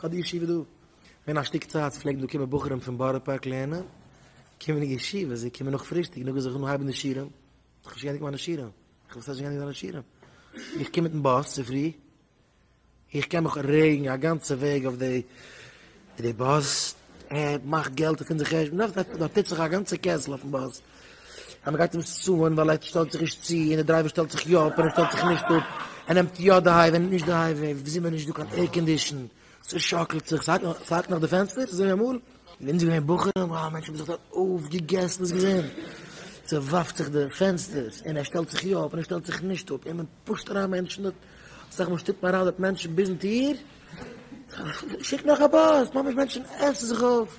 כ'האב די ישיבה דא. ווען א שטיק צייט פלעגן דא קומען בחורים פון בארא פארק לערנען, קומען אין ישיבה, זיי קומען נאך פרישטאג, נאכדעם זיך אנהייבן די שיעורים, איך האב נישט געענדיגט מיינע שיעורים, איך ווייס נישט ווען עס זענען שיעורים, איך קום מיטן באס צופרי, איך קען מיך רעגן א גאנצע וועג אויף די די באס, ער מאכט געלט אויף אונזער חשבון, נאכדעם דארט טוט זיך א גאנצע קעסל אויפן באס. אז מ'גייט אים סוען ווייל ער שטעלט זיך נישט צו, און די דרייווער שטעלט זיך יא אפ און ער שטעלט זיך נישט אפ, ער נעמט יא די הייוועי און נישט די הייוועי, ווי זומער נישט דא קיין עירקאנדישן, ס'שאקלט זיך, ס'האקט נאך די פענסטער, ס'איז אזוי אמאל, און אונז געווען בחורים, אה, מענטשן האבן זיך דארט אויפגעגעסן דאס געזען, ס'ווארפט זיך די פענסטערס, און ער שטעלט זיך יא אפ און ער שטעלט זיך נישט אפ, און מען פושט אריין מענטשן דארט, אסאך מאל שטופט מען אריין דארט מענטשן ביזן טיר, שיק נאך א באס, ממש מענטשן עסן זיך אויף.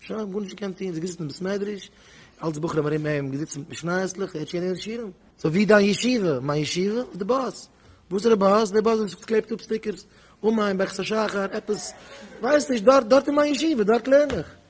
שוין גארנישט געקענט טון, זיי געזיצן אין בית מדרש, אלץ בחורים ארום אים געזיצן מיט משניות-ליך, ער האט שוין געלערנט שירים. סאו ווי דיין ישיבה? מיין ישיבה איז די באס. וואסערע באס? די באס וואס קלעבט אפ סטיקערס, אום א און ביי כסא שחר, עפעס, כ'ווייס נישט, דארט, דארט איז מיין ישיבה, דארט לערן איך.